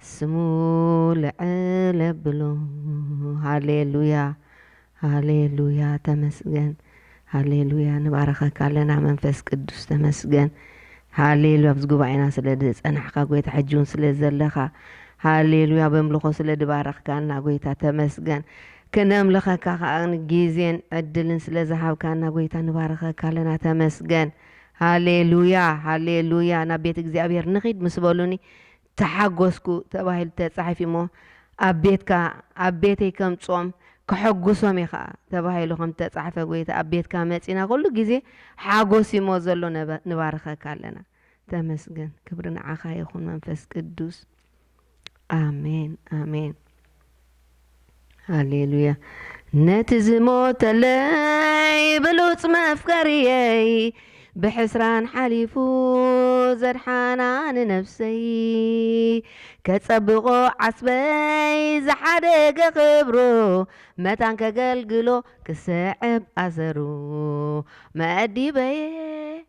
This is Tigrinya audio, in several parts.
ስሙ ልዕል ኣብሎ ሃሌሉያ ሃሌሉያ ተመስገን ሃሌሉያ ንባርኸካ ኣለና መንፈስ ቅዱስ ተመስገን ሃሌሉያ ኣብዚ ጉባኤና ስለ ዝጸናሕካ ጎይታ ሕጂ እውን ስለ ዘለኻ ሃሌሉያ በምልኾ ስለ ድባረኽካና ጎይታ ተመስገን ክነምልኸካ ከዓ ግዜን ዕድልን ስለ ዝሃብካና ጎይታ ንባርኸካ ኣለና ተመስገን ሃሌሉያ ሃሌሉያ ናብ ቤት እግዚኣብሔር ንኺድ ምስ በሉኒ ተሓጐስኩ ተባሂሉ ተጻሒፉ'ሞ ኣብ ቤትካ ኣብ ቤተይ ከምጽኦም ከሐጕሶም እየ ኸኣ ተባሂሉ ከም እተጻሕፈ ጐይታ ኣብ ቤትካ መጺእና ኩሉ ግዜ ሓጐስ እዩ'ሞ ዘሎ ንባርኸካ ኣለና ተመስገን ክብሪ ንዓኻ ይኹን መንፈስ ቅዱስ ኣሜን ኣሜን። ሃሌሉያ ነቲ ዝሞተለይ ብሉፅ መፍቀርየይ ብሕስራን ሓሊፉ ዘድሓና ንነፍሰይ ከጸብቆ ዓስበይ ዝሓደገ ክብሩ መታን ከገልግሎ ክስዕብ ኣሰሩ መኣዲበየ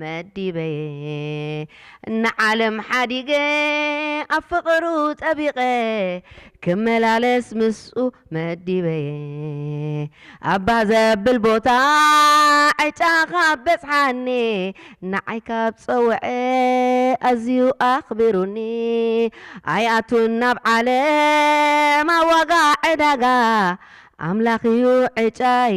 መዲበ'የ ንዓለም ሓዲገ ኣብ ፍቕሩ ጸቢቐ ክመላለስ ምስኡ መዲበ'የ ኣባ ዘብል ቦታ ዕጫ ካብ በጽሓኒ ንዓይ ካብ ጸውዐ ኣዝዩ ኣኽቢሩኒ ኣይኣቱን ናብ ዓለም ኣብ ዋጋ ዕዳጋ ኣምላኽ'ዩ ዕጫይ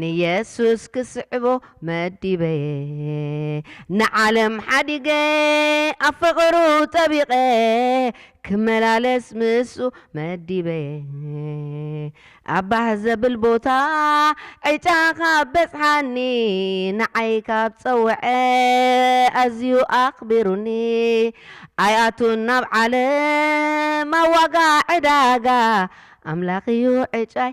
ንየሱስ ክስዕቦ መዲበ'የ ንዓለም ሓዲገ ኣብ ፍቕሩ ጠቢቐ ክመላለስ ምስኡ መዲበ'የ ኣብ ባህ ዘብል ቦታ ዕጫ ካብ በጽሓኒ ንዓይ ካብ ጸውዐ ኣዝዩ ኣኽቢሩኒ ኣይኣቱን ናብ ዓለም ኣብ ዋጋ ዕዳጋ ኣምላኽ'ዩ ዕጫይ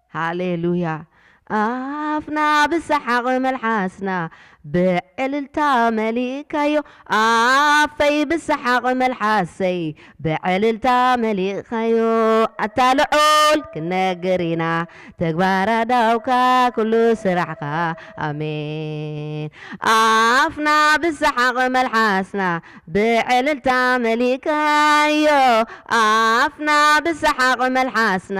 ሃሌሉያ ኣፍና ብሰሓቕ መልሓስና ብዕልልታ መሊእካዮ ኣፈይ ብሰሓቕ መልሓሰይ ብዕልልታ መሊእካዮ ኣታ ልዑል ክንነግር ኢና ተግባር ኣእዳውካ ኩሉ ስራሕካ ኣሜን ኣፍና ብሰሓቕ መልሓስና ብዕልልታ መሊእካዮ ኣፍና ብሰሓቕ መልሓስና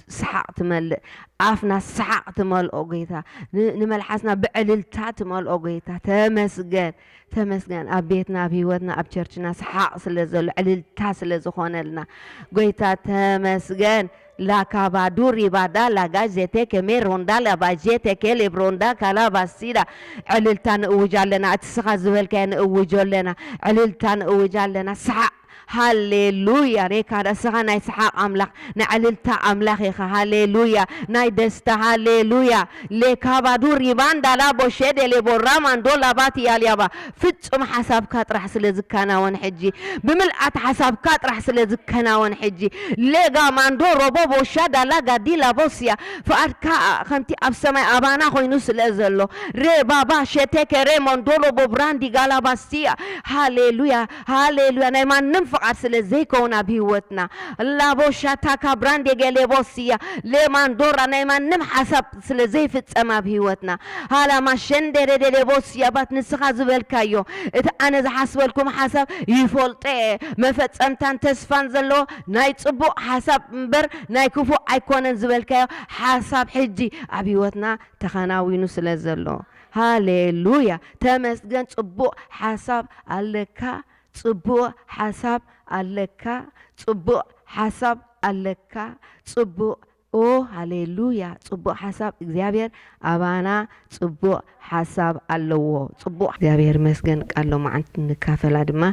ሰሓቕ ትመልእ ኣፍና ሰሓቕ ትመልኦ ጎይታ ንመልሓስና ብዕልልታ ትመልኦ ጎይታ ተመስገን ተመስገን ኣብ ቤትና ኣብ ሂወትና ኣብ ቸርችና ሰሓቕ ስለ ዘሎ ዕልልታ ስለ ዝኾነልና ጎይታ ተመስገን ላካባዱ ሪባዳ ላጋ ዜቴ ከሜ ሮንዳ ላባጄቴ ኬሌብ ሮንዳ ካላባሲዳ ዕልልታ ንእውጅ ኣለና እቲ ስኻ ዝበልካዮ ንእውጆ ኣለና ዕልልታ ንእውጅ ኣለና ሰሓቕ ሃሌሉያ ኔካ ንስኻ ናይ ሰሓቅ ኣምላኽ ናይ ዕልልታ ኣምላኽ ኢኻ ሃሌሉያ ናይ ደስታ ሃሌሉያ ሌካባዱ ሪባንዳ ላቦ ሼዴሌቦ ራማንዶ ላባቲ ያልያባ ፍጹም ሓሳብካ ጥራሕ ስለ ዝከናወን ሕጂ ብምልኣት ሓሳብካ ጥራሕ ስለ ዝከናወን ሕጂ ሌጋማንዶ ሮቦቦ ሻዳ ላጋዲ ላቦስያ ፍቃድካ ከምቲ ኣብ ሰማይ ኣባና ኮይኑ ስለ ዘሎ ሬባባ ሼቴኬ ሬሞንዶ ሎቦ ብራንዲ ጋላባስያ ሃሌሉያ ሃሌሉያ ናይ ማንም ፍቃድ ስለ ዘይከውን ኣብ ሂወትና ላቦሻ ታካ ብራንዴ ገሌቦስያ ሌማንዶራ ናይ ማንም ሓሳብ ስለ ዘይፍጸም ኣብ ሂወትና ሃላማ ሸንዴሬ ዴሌቦስያ ባት ንስኻ ዝበልካዮ እቲ ኣነ ዝሓስበልኩም ሓሳብ ይፈልጦ እየ መፈጸምታን ተስፋን ዘለዎ ናይ ጽቡቅ ሓሳብ እምበር ናይ ክፉእ ኣይኮነን ዝበልካዮ ሓሳብ ሕጂ ኣብ ሂወትና ተኸናዊኑ ስለ ዘሎ ሃሌሉያ ተመስገን ጽቡቅ ሓሳብ ኣለካ ጽቡቅ ሓሳብ ኣለካ ጽቡቅ ሓሳብ ኣለካ ጽቡቅ ኦህ ሃሌሉያ ጽቡቅ ሓሳብ እግዚኣብሔር ኣባና ጽቡቅ ሓሳብ ኣለዎ ጽቡቅ እግዚኣብሔር ይመስገን ቃል ሎማዓንቲ ንካፈላ ድማ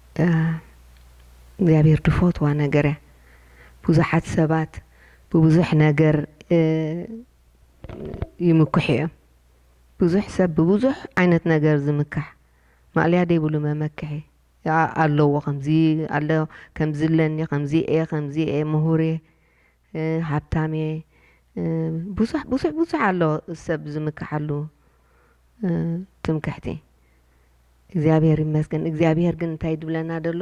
እታ እግዚኣብሔር ድፈትዋ ነገር እያ ብዙሓት ሰባት ብብዙሕ ነገር ይምኩሑ እዮም ብዙሕ ሰብ ብብዙሕ ዓይነት ነገር ዝምካሕ ማእለያ ደይብሉ መመክሒ ኣለዎ ከምዚ ኣለ ከምዚ ኣለኒ ከምዚ እየ ከምዚ እየ ምሁር እየ ሃብታምየ ብዙሕ ብዙሕ ብዙሕ ኣሎ ሰብ ዝምክሓሉ ትምክሕቲ እግዚኣብሔር ይመስገን እግዚኣብሔር ግን እንታይ ድብለና ደሎ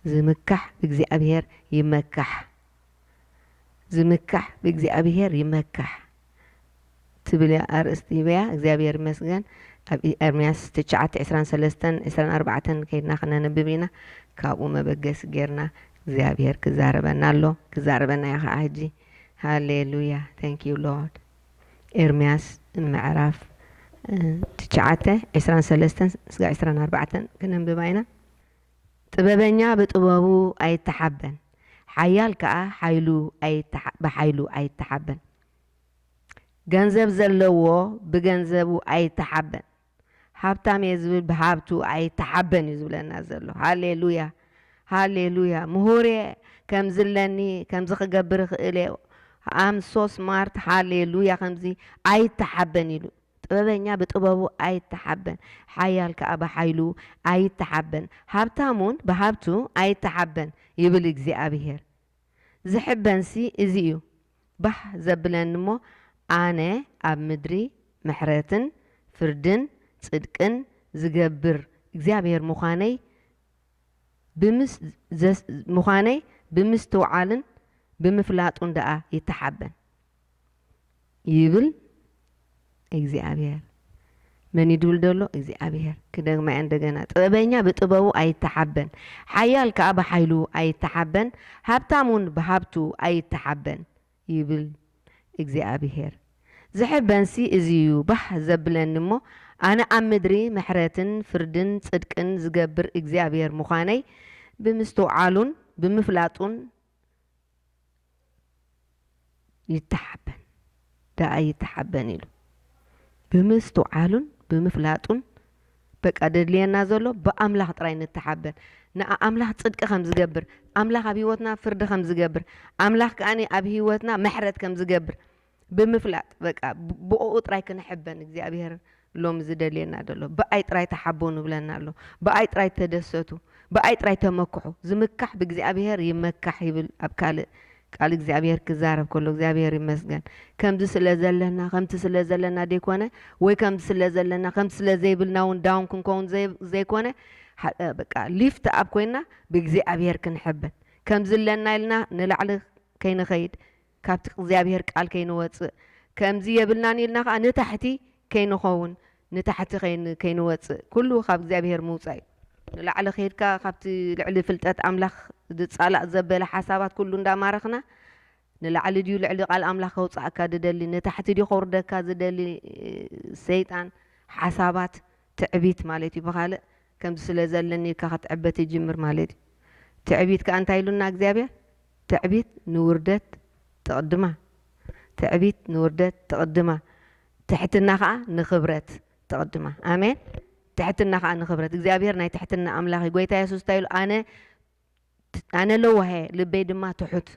ዝምካሕ ብእግዚኣብሔር ይመካሕ ዝምካሕ ብእግዚኣብሔር ይመካሕ። ትብል እያ ኣርእስቲ ሂበያ እግዚኣብሔር ይመስገን ኣብ ኤርምያስ ትሽዓተ ዕስራን ሰለስተን ዕስራን ኣርባዕተን ከይድና ክነንብብ ኢና ካብኡ መበገሲ ጌርና እግዚኣብሔር ክዛረበና ኣሎ ክዛረበና እዩ ከዓ ሕጂ ሃሌሉያ ታንክ ዩ ሎርድ ኤርምያስ ምዕራፍ ትሽዓተ ዕስራን ሰለስተን ስጋ ዕስራን ኣርባዕተን ክነንብባ ኢና ጥበበኛ ብጥበቡ ኣይተሓበን፣ ሓያል ከኣ ሓይሉ ብሓይሉ ኣይተሓበን። ገንዘብ ዘለዎ ብገንዘቡ ኣይተሓበን፣ ሃብታም እየ ዝብል ብሃብቱ ኣይተሓበን እዩ ዝብለና ዘሎ። ሃሌ ሉያ! ሃሌ ሉያ! ምሁር እየ፣ ከምዚ ኣለኒ፣ ከምዚ ክገብር እኽእል እየ፣ ኣም ሶ ስማርት፣ ሃሌ ሉያ! ከምዚ ኣይተሓበን ኢሉ። ጥበበኛ ብጥበቡ ኣይተሓበን፣ ሓያል ከኣ ብሓይሉ ኣይተሓበን፣ ሃብታምውን ብሃብቱ ኣይተሓበን ይብል እግዚኣብሄር። ዝሕበንሲ እዚ እዩ ባህ ዘብለኒ እሞ፣ ኣነ ኣብ ምድሪ ምሕረትን ፍርድን ጽድቅን ዝገብር እግዚኣብሄር ምዃነይ ብምስ ምዃነይ ብምስትውዓልን ብምፍላጡን ደኣ ይተሓበን። ይብል እግዚኣብሔር። መን ይድብል ደሎ እግዚኣብሔር። ክደግማ እንደገና ጥበበኛ ብጥበቡ ኣይተሓበን፣ ሓያል ከኣ ብሓይሉ ኣይተሓበን፣ ሃብታም እውን ብሃብቱ ኣይተሓበን ይብል እግዚኣብሔር። ዝሕበንሲ እዚ እዩ ባህ ዘብለኒ እሞ ኣነ ኣብ ምድሪ ምሕረትን ፍርድን ጽድቅን ዝገብር እግዚኣብሔር ምዃነይ ብምስትውዓሉን ብምፍላጡን ይተሓበን ደኣ ይተሓበን ኢሉ ብምስትውዓሉን ብምፍላጡን በቃ ደድልየና ዘሎ ብኣምላኽ ጥራይ ንተሓበን ንኣምላኽ ጽድቂ ከም ዝገብር ኣምላኽ ኣብ ህይወትና ፍርዲ ከም ዝገብር ኣምላኽ ከኣ ኣብ ህይወትና ምሕረት ከም ዝገብር ብምፍላጥ በቃ ብኦኡ ጥራይ ክንሕበ ንእግዚኣብሄር ሎሚ ዝደልየና ደሎ ብኣይ ጥራይ ተሓቦ ንብለና ኣሎ ብኣይ ጥራይ ተደሰቱ ብኣይ ጥራይ ተመክሑ ዝምካሕ ብእግዚኣብሄር ይመካሕ ይብል ኣብ ካልእ ቃል እግዚኣብሄር ክዛረብ ከሎ እግዚኣብሄር ይመስገን ከምዚ ስለ ዘለና ከምቲ ስለ ዘለና ደይኮነ ወይ ከምዚ ስለ ዘለና ከምቲ ስለ ዘይብልና እውን ዳውን ክንከውን ዘይኮነ በቃ ሊፍት ኣብ ኮይና ብእግዚኣብሄር ክንሕበን ከምዚ ኣለና ኢልና ንላዕሊ ከይንኸይድ ካብቲ እግዚኣብሄር ቃል ከይንወጽእ ከምዚ የብልናን ኢልና ከኣ ንታሕቲ ከይንኸውን ንታሕቲ ከይንወጽእ ኩሉ ካብ እግዚኣብሄር ምውጻእ እዩ ንላዕሊ ከይድካ ካብቲ ልዕሊ ፍልጠት ኣምላኽ ዝጻላእ ዘበለ ሓሳባት ኩሉ እንዳማረኽና ንላዕሊ ድዩ ልዕሊ ቃል ኣምላኽ ከውጻእካ ዝደሊ ንታሕቲ ድዩ ከውርደካ ዝደሊ ሰይጣን ሓሳባት ትዕቢት ማለት እዩ ብኻልእ ከምዚ ስለ ዘለኒ ኢልካ ክትዕበ ትጅምር ማለት እዩ ትዕቢት ከኣ እንታይ ኢሉና እግዚኣብሄር ትዕቢት ንውርደት ትቕድማ ትዕቢት ንውርደት ትቕድማ ትሕትና ከኣ ንኽብረት ትቕድማ ኣሜን ትሕትና ከኣ ንኽብረት እግዚኣብሄር ናይ ትሕትና ኣምላኽ እዩ ጎይታ የሱስ እንታይ ኢሉ ኣነ ኣነ ለዋህ እየ ልበይ ድማ ትሑት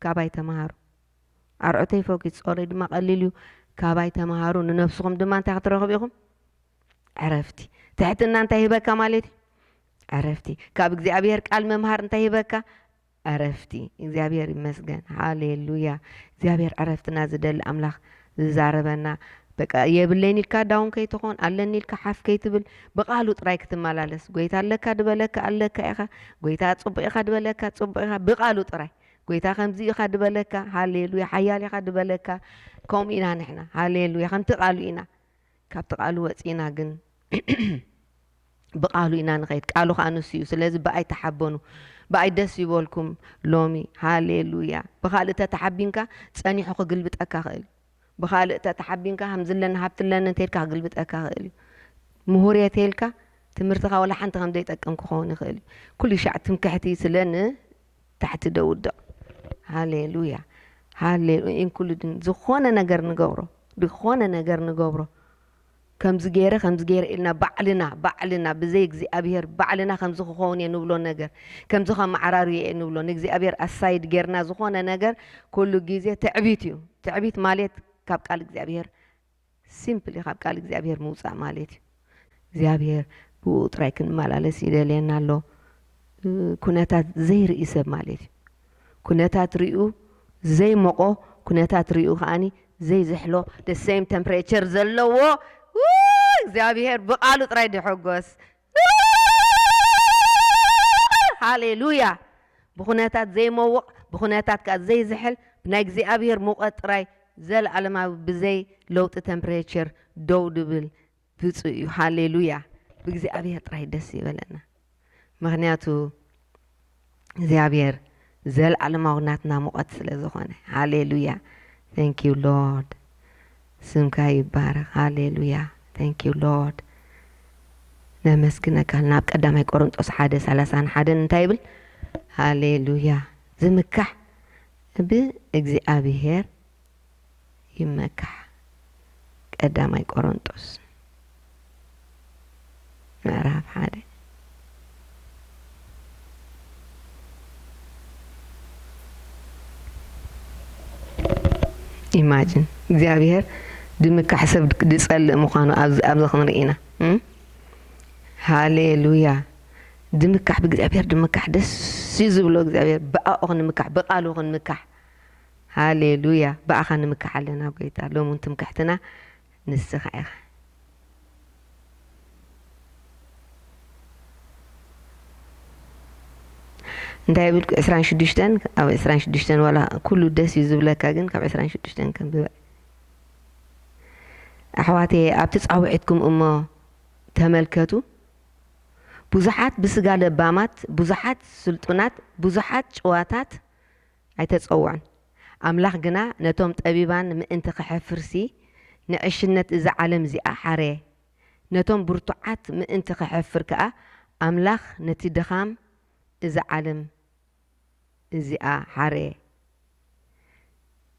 ካባይ ተምሃሩ ኣርዑተይ ፈኪት ጾረይ ድማ ቀሊል እዩ ካባይ ተምሃሩ ንነብስኹም ድማ እንታይ ክትረኽቡ ኢኹም ዕረፍቲ ትሕትና እንታይ ሂበካ ማለት እዩ ዕረፍቲ ካብ እግዚኣብሔር ቃል መምሃር እንታይ ሂበካ ዕረፍቲ እግዚኣብሔር ይመስገን ሃሌሉያ እግዚኣብሔር ዕረፍትና ዝደሊ ኣምላኽ ዝዛረበና በቃ የብለይን ኢልካ ዳውን ከይትኾን ኣለኒ ኢልካ ሓፍ ከይትብል ብቃሉ ጥራይ ክትመላለስ ጎይታ ኣለካ ድበለካ ኣለካ ኢኻ ጎይታ ጽቡቅ ኢኻ ድበለካ ጽቡቅ ኢኻ ብቃሉ ጥራይ ጎይታ ከምዚ ኢኻ ድበለካ ሃሌሉያ ሓያል ኢኻ ድበለካ ከምኡ ኢና ንሕና ሃሌሉያ ከምቲ ቃሉ ኢና ካብቲ ቃሉ ወጺእና ግን ብቃሉ ኢና ንከይድ ቃሉ ከኣ ንሱ እዩ ስለዚ ብኣይ ተሓበኑ ብኣይ ደስ ይበልኩም ሎሚ ሃሌሉያ ብካልእ ተተሓቢንካ ጸኒሑ ክግልብጠካ ክእል እዩ ብካልእ ተተሓቢንካ ከምዚ ኣለኒ ሃብቲ ኣለኒ እንተልካ ክግልብጠካ ክእል እዩ ምሁር እየ ተልካ ትምህርትካ ወላ ሓንቲ ከምዘይጠቅም ክኸውን ይኽእል እዩ ኩሉ ሻዕ ትምክሕቲ ስለ ን ታሕቲ ዶ ውድቕ ሃሌሉያ ሃሌ ኢንኩሉድን ዝኾነ ነገር ንገብሮ ዝኾነ ነገር ንገብሮ ከምዚ ገይረ ከምዚ ገይረ ኢልና ባዕልና ባዕልና ብዘይ እግዚኣብሄር ባዕልና ከምዚ ክኸውን እየ ንብሎ ነገር ከምዚ ከመዓራርዮ እየ ንብሎ ንእግዚኣብሄር ኣሳይድ ጌርና ዝኾነ ነገር ኩሉ ግዜ ትዕቢት እዩ ትዕቢት ማለት ካብ ቃል እግዚኣብሄር ሲምፕሊ ካብ ቃል እግዚኣብሄር ምውጻእ ማሌት እዩ እግዚኣብሄር ብእኡ ጥራይ ክንመላለስ ይደልየና ኣሎ ኩነታት ዘይርኢ ሰብ ማሌት እዩ ኩነታት ሪኡ ዘይሞቆ ኩነታት ሪኡ ከኣኒ ዘይዝሕሎ ደሰይም ተምፕሬቸር ዘለዎ እግዚኣብሄር ብቃሉ ጥራይ ድሕጎስ ሃሌሉያ! ብኩነታት ዘይመውቕ ብኩነታት ከኣ ዘይዝሕል ብናይ እግዚኣብሔር ሙቐት ጥራይ ዘለዓለማዊ ብዘይ ለውጢ ተምፕሬቸር ደው ድብል ብጹእ እዩ። ሃሌሉያ! ብእግዚኣብሔር ጥራይ ደስ ይበለና ምክንያቱ። እግዚኣብሔር ዘልኣለማዊ ናትና ሙቐት ስለ ዝኾነ ሃሌሉያ ቴንክ ዩ ሎርድ ስምካ ይባረኽ ሃሌሉያ ቴንክ ዩ ሎርድ ነመስግነካ ናብ ቀዳማይ ቆሮንጦስ ሓደ ሰላሳን ሓደን እንታይ ይብል ሃሌሉያ ዝምካሕ ብእግዚኣብሄር ይመካሕ ቀዳማይ ቆሮንጦስ ምዕራፍ ሓደ ኢማጅን እግዚኣብሄር ድምካሕ ሰብ ድጸልእ ምዃኑ ኣብዚ ኣብዚ ክንርኢ ኢና ሃሌሉያ ድምካሕ ብእግዚኣብሄር ድምካሕ ደስ እዩ ዝብሎ እግዚኣብሄር ብኣኡ ክንምካሕ ብቃሉ ክንምካሕ ሃሌሉያ ብኣኻ ንምካሕ ኣለና ጎይታ ሎሚ ውን ትምክሕትና ንስኻ ኢኻ። እንታይ ብልኩ ዕስራን ሽዱሽተን ኣብ ዕስራን ሽዱሽተን ዋላ ኩሉ ደስ እዩ ዝብለካ ግን ካብ ዕስራን ሽዱሽተን ከንብበ ኣሕዋት ኣብቲ ፃውዒትኩም እሞ ተመልከቱ ብዙሓት ብስጋ ለባማት ብዙሓት ስልጡናት ብዙሓት ጭዋታት ኣይተጸውዑን። ኣምላኽ ግና ነቶም ጠቢባን ምእንቲ ኼሐፍርሲ፣ ንዕሽነት እዛ ዓለም እዚኣ ሐረየ። ነቶም ብርቱዓት ምእንቲ ኼሐፍር ከኣ፣ ኣምላኽ ነቲ ድኻም እዛ ዓለም እዚኣ ሐረየ።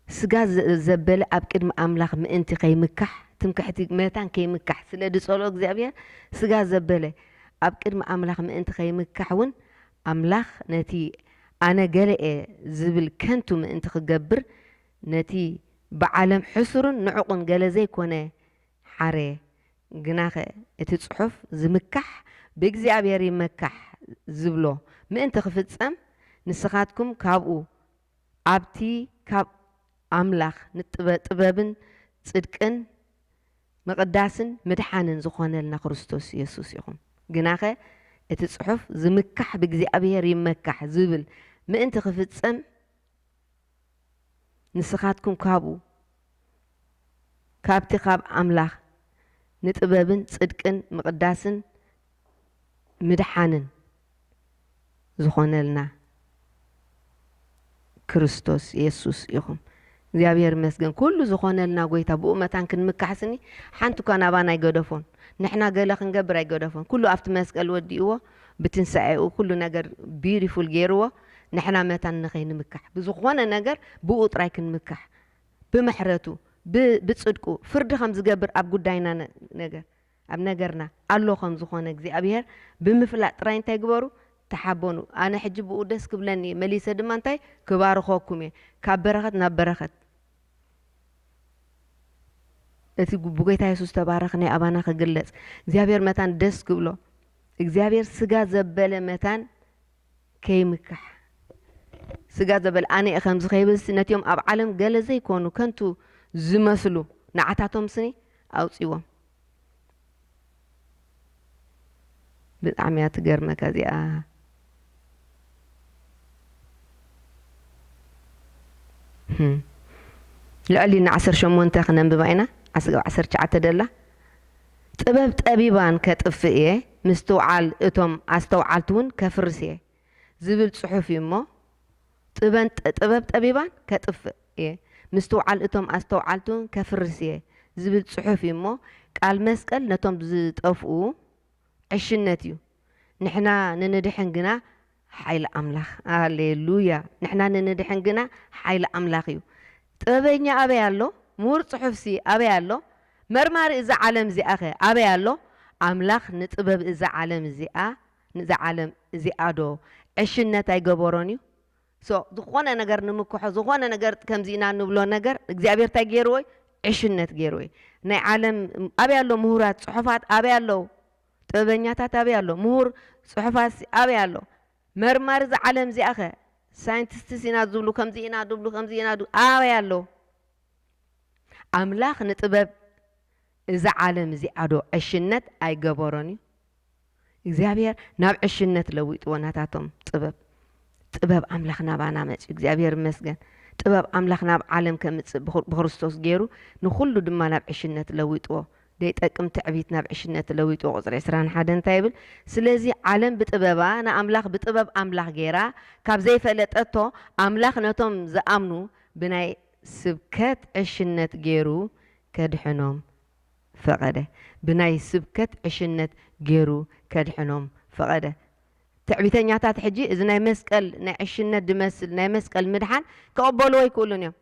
ስጋ ዘበለ ኣብ ቅድሚ ኣምላኽ ምእንቲ ኼይምካሕ፣ ትምክሕቲ መታን ኬይምካሕ ስለ ዝጸልኦ እግዚኣብሄር፣ ስጋ ዘበለ ኣብ ቅድሚ ኣምላኽ ምእንቲ ኼይምካሕውን ኣምላኽ ነቲ ኣነ ገለ'የ ዝብል ከንቱ ምእንቲ ክገብር ነቲ ብዓለም ሕሱርን ንዑቕን ገለ ዘይኮነ ሓረየ። ግናኸ እቲ ጽሑፍ ዝምካሕ ብእግዚኣብሔር ይመካሕ ዝብሎ ምእንቲ ክፍጸም ንስኻትኩም ካብኡ ኣብቲ ካብ ኣምላኽ ንጥበብን ጽድቅን ምቕዳስን ምድሓንን ዝኾነልና ክርስቶስ የሱስ ይኹን። ግናኸ እቲ ጽሑፍ ዝምካሕ ብእግዚኣብሄር ይመካሕ ዝብል ምእንቲ ክፍጸም ንስኻትኩም ካብኡ ካብቲ ካብ ኣምላኽ ንጥበብን ጽድቅን ምቕዳስን ምድሓንን ዝኾነልና ክርስቶስ የሱስ ኢኹም። እግዚኣብሔር ይመስገን ኩሉ ዝኾነልና ጎይታ ብኡ መታን ክንምካሕስኒ ሓንቲ እኳ ናባና ኣይገደፎን ንሕና ገለ ክንገብር ኣይገደፎን ኩሉ ኣብቲ መስቀል ወዲእዎ ብትንሳኤኡ ኩሉ ነገር ቢዩቲፉል ገይርዎ ንሕና መታን ንኸይንምካሕ ብዝኾነ ነገር ብኡ ጥራይ ክንምካሕ ብምሕረቱ ብጽድቁ ፍርዲ ከም ዝገብር ኣብ ጉዳይና ነገር ኣብ ነገርና ኣሎ ከም ዝኾነ እግዚኣብሄር ብምፍላጥ ጥራይ እንታይ ግበሩ ተሓበኑ ኣነ ሕጂ ብኡ ደስ ክብለኒ እየ መሊሰ ድማ እንታይ ክባርኸኩም እየ ካብ በረኸት ናብ በረኸት እቲ ብጎይታ የሱስ ዝተባረኸ ናይ ኣባና ክግለጽ እግዚኣብሄር መታን ደስ ክብሎ እግዚኣብሄር ስጋ ዘበለ መታን ከይምካሕ ስጋ ዘበለ ኣነ እየ ከምዚ ከይብልሲ ነቲኦም ኣብ ዓለም ገለ ዘይኮኑ ከንቱ ዝመስሉ ንዓታቶም ስኒ ኣውጽዎም ብጣዕሚ እያ ትገርመካ እዚኣ ልዕሊ ን ዓሰርተ ሸሞንተ ክነንብባ ኢና ዓስብ ዓሰርተ ትሽዓተ ደላ ጥበብ ጠቢባን ከጥፍእ እየ ምስትውዓል እቶም ኣስተውዓልቲ እውን ከፍርስ እየ ዝብል ጽሑፍ እዩ እሞ ጥበን ጥበብ ጠቢባን ከጥፍእ እየ ምስትውዓል እቶም ኣስተውዓልቱ ከፍርስ እየ ዝብል ጽሑፍ እዩ እሞ ቃል መስቀል ነቶም ዝጠፍኡ ዕሽነት እዩ ንሕና ንንድሕን ግና ሓይሊ ኣምላኽ ሃሌሉያ ንሕና ንንድሕን ግና ሓይሊ ኣምላኽ እዩ ጥበበኛ ኣበይ ኣሎ ምሁር ጽሑፍሲ ኣበይ ኣሎ መርማሪ እዛ ዓለም እዚኣኸ ኣበይ ኣሎ ኣምላኽ ንጥበብ እዛ ዓለም እዚኣ ንዛ ዓለም እዚኣ ዶ ዕሽነት ኣይገበሮን እዩ so ዝኾነ ነገር ንምክሖ ዝኾነ ነገር ከምዚ ኢና ንብሎ ነገር እግዚኣብሔር ታይ ገይርዎ እዩ ዕሽነት ገይርዎ እዩ ናይ ዓለም ኣበይ ኣሎ ምሁራት ፅሑፋት ኣበይ ኣለው ጥበበኛታት ኣበይ ኣሎ ምሁር ፅሑፋት ኣበይ ኣሎ መርማሪ እዛ ዓለም እዚኣ ከ ሳይንቲስትስ ኢና ዝብሉ ከምዚ ኢና ድብሉ ከምዚ ኢና ኣበይ ኣሎ ኣምላኽ ንጥበብ እዛ ዓለም እዚኣ ዶ ዕሽነት ኣይገበሮን እዩ እግዚኣብሔር ናብ ዕሽነት ለዊጥዎ ናታቶም ጥበብ ጥበብ ኣምላኽ ናባና መጽዩ እግዚኣብሔር ይመስገን ጥበብ ኣምላኽ ናብ ዓለም ከምጽእ ብክርስቶስ ገይሩ ንኹሉ ድማ ናብ ዕሽነት ለዊጥዎ ደይጠቅም ትዕቢት ናብ ዕሽነት ለዊጥዎ ቁፅሪ 21 እንታይ ይብል ስለዚ ዓለም ብጥበባ ንኣምላኽ ብጥበብ ኣምላኽ ገይራ ካብ ዘይፈለጠቶ ኣምላኽ ነቶም ዝኣምኑ ብናይ ስብከት ዕሽነት ገይሩ ከድሕኖም ፈቐደ። ብናይ ስብከት ዕሽነት ገሩ ከድሕኖም ፈቐደ። ትዕቢተኛታት ሕጂ እዚ ናይ መስቀል ናይ ዕሽነት ድመስል ናይ መስቀል ምድሓን ክቕበልዎ ኣይክእሉን እዮም።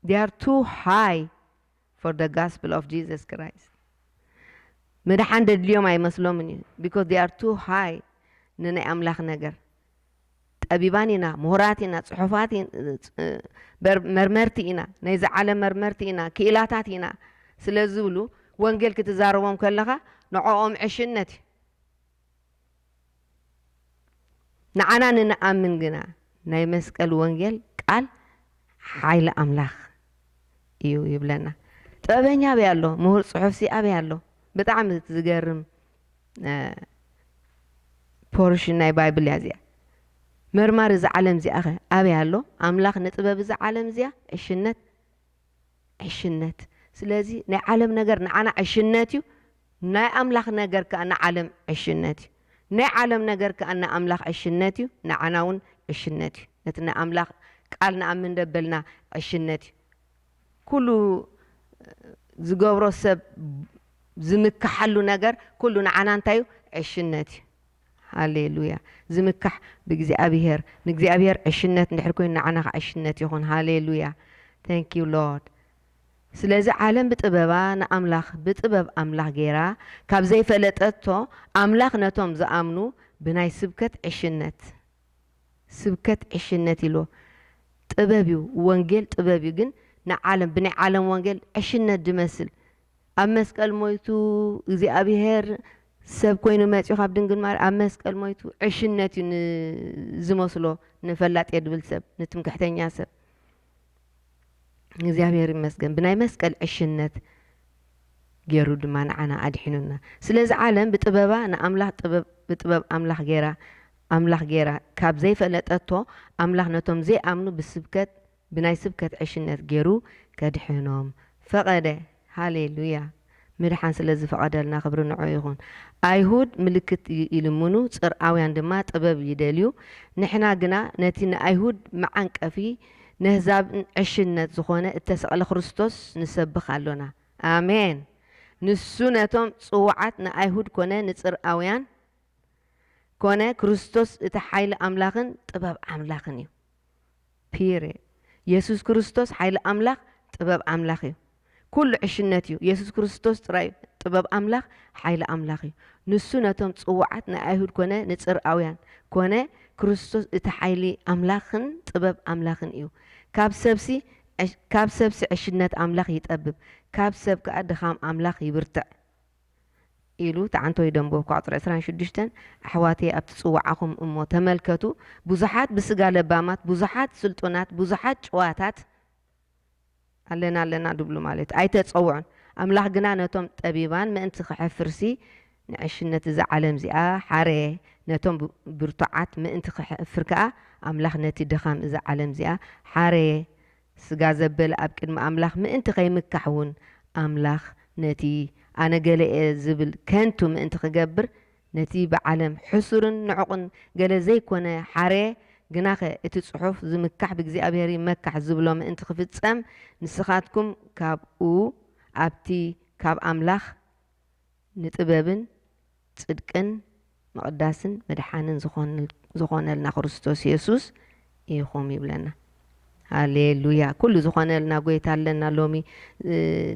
They are too high for the gospel of Jesus Christ. ምድሓን ደድልዮም ኣይመስሎምን እዩ because they are too high ንናይ ኣምላኽ ነገር። ጠቢባን ኢና፣ ምሁራት ኢና፣ ጽሑፋት መርመርቲ ኢና፣ ናይዚ ዓለም መርመርቲ ኢና፣ ክኢላታት ኢና ስለ ዝብሉ ወንጌል ክትዛረቦም ከለኻ ንዕኦም ዕሽነት እዩ። ንዓና ንንኣምን ግና ናይ መስቀል ወንጌል ቃል ሓይሊ ኣምላኽ እዩ ይብለና። ጥበበኛ ኣበይ ኣሎ? ምሁር ጽሑፍሲ ኣበይ ኣሎ? ብጣዕሚ ዝገርም ፖርሽን ናይ ባይብል እያ እዚኣ። መርማሪ እዛ ዓለም እዚኣ ኸ ኣበይ ኣሎ? ኣምላኽ ንጥበብ እዛ ዓለም እዚኣ ዕሽነት ዕሽነት ስለዚ ናይ ዓለም ነገር ንዓና ዕሽነት እዩ ናይ ኣምላኽ ነገር ከዓ ንዓለም ዕሽነት እዩ ናይ ዓለም ነገር ከዓ ንኣምላኽ ዕሽነት እዩ ንዓና እውን ዕሽነት እዩ ነቲ ንኣምላኽ ቃል ንኣምን ደበልና ዕሽነት እዩ ኩሉ ዝገብሮ ሰብ ዝምካሓሉ ነገር ኩሉ ንዓና እንታይ እዩ ዕሽነት እዩ ሃሌሉያ ዝምካሕ ብእግዚኣብሄር ንእግዚኣብሄር ዕሽነት እንድሕር ኮይኑ ንዓና ከዓ ዕሽነት ይኹን ሃሌሉያ ታንክ ዩ ሎርድ ስለዚ ዓለም ብጥበባ ንኣምላኽ ብጥበብ ኣምላኽ ገይራ ካብ ዘይፈለጠቶ ኣምላኽ ነቶም ዝኣምኑ ብናይ ስብከት ዕሽነት ስብከት ዕሽነት ኢልዎ ጥበብ እዩ ወንጌል ጥበብ እዩ ግን ንዓለም ብናይ ዓለም ወንጌል ዕሽነት ድመስል ኣብ መስቀል ሞይቱ እግዚኣብሄር ሰብ ኮይኑ መጺኡ ካብ ድንግል ማርያም ኣብ መስቀል ሞይቱ ዕሽነት እዩ ዝመስሎ ንፈላጥ የድብል ሰብ ንትምክሕተኛ ሰብ እግዚኣብሔር ይመስገን ብናይ መስቀል ዕሽነት ገይሩ ድማ ንዓና ኣድሒኑና ስለዚ ዓለም ብጥበባ ንኣምላኽ ጥበብ ብጥበብ ኣምላኽ ገይራ ኣምላኽ ገይራ ካብ ዘይፈለጠቶ ኣምላኽ ነቶም ዘይኣምኑ ብስብከት ብናይ ስብከት ዕሽነት ገይሩ ከድሕኖም ፈቐደ ሃሌሉያ ምድሓን ስለ ዝፈቐደልና ክብሪ ንዕኡ ይኹን። ኣይሁድ ምልክት ይልምኑ ጽርኣውያን ድማ ጥበብ ይደልዩ ንሕና ግና ነቲ ንኣይሁድ መዓንቀፊ ነህዛብን ዕሽነት ዝኾነ እተሰቕለ ክርስቶስ ንሰብኽ ኣሎና። ኣሜን። ንሱ ነቶም ጽዉዓት ንኣይሁድ ኮነ ንጽርኣውያን ኮነ ክርስቶስ እቲ ሓይሊ ኣምላኽን ጥበብ ኣምላኽን እዩ። Period የሱስ ክርስቶስ ሓይሊ ኣምላኽ ጥበብ ኣምላኽ እዩ ኩሉ ዕሽነት እዩ የሱስ ክርስቶስ ጥራይ እዩ ጥበብ ኣምላኽ ሓይሊ ኣምላኽ እዩ ንሱ ነቶም ጽዉዓት ናይ ኣይሁድ ኮነ ንጽርኣዉያን ኮነ ክርስቶስ እቲ ሓይሊ ኣምላኽን ጥበብ ኣምላኽን እዩ ካብ ሰብሲ ካብ ሰብሲ ዕሽነት ኣምላኽ ይጠብብ ካብ ሰብ ከኣ ድኻም ኣምላኽ ይብርትዕ ኢሉ ትዓንቶ ይደንቦ ኳዕጽር ዕስራን ሽዱሽተን ኣሕዋተየ ኣብቲ ጽውዓኹም እሞ ተመልከቱ ብዙሓት ብስጋ ለባማት ብዙሓት ስልጡናት ብዙሓት ጭዋታት ኣለና ኣለና ድብሉ ማለት ኣይተጸውዑን ኣምላኽ ግና ነቶም ጠቢባን ምእንቲ ክሐፍርሲ ንዕሽነት እዛ ዓለም እዚኣ ሓረየ ነቶም ብርቱዓት ምእንቲ ክሐፍር ከኣ ኣምላኽ ነቲ ድኻም እዛ ዓለም እዚኣ ሓረየ ስጋ ዘበለ ኣብ ቅድሚ ኣምላኽ ምእንቲ ኸይምካሕ እውን፣ ኣምላኽ ነቲ ኣነ ገለ እየ ዚብል ከንቱ ምእንቲ ኺገብር፣ ነቲ ብዓለም ሕሱርን ንዑቕን ገለ ዘይኰነ ሓረየ። ግናኸ እቲ ጽሑፍ፣ ዚምካሕ ብእግዚኣብሄር ይመካሕ ዚብሎ ምእንቲ ኺፍጸም፣ ንስኻትኩም ካብኡ፣ ኣብቲ ኻብ ኣምላኽ፣ ንጥበብን ጽድቅን ምቕዳስን መድሓንን ዝኾነልና ክርስቶስ የሱስ ኢኹም ይብለና። ሃሌሉያ ኩሉ ዝኾነልና ጎይታ ኣለና ሎሚ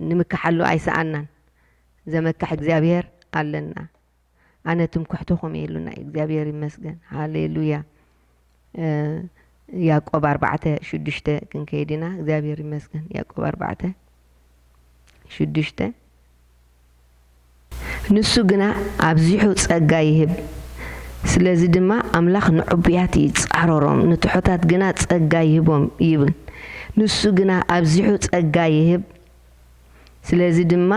ንምካሓሉ ኣይሰኣናን ዘመክሕ እግዚኣብሔር ኣለና ኣነ ትምኩሕትኹም እየ ኢሉና እዩ እግዚኣብሔር ይመስገን ሃሌሉያ ያእቆብ ኣርባዕተ ሽዱሽተ ክንከይድ ኢና እግዚኣብሔር ይመስገን ያእቆብ ኣርባዕተ ሽዱሽተ ንሱ ግና ኣብዚሑ ጸጋ ይህብ ስለዚ ድማ ኣምላኽ ንዕቡያት ይጻረሮም ንትሑታት ግና ጸጋ ይህቦም ይብል ንሱ ግና ኣብዚሑ ጸጋ ይህብ ስለዚ ድማ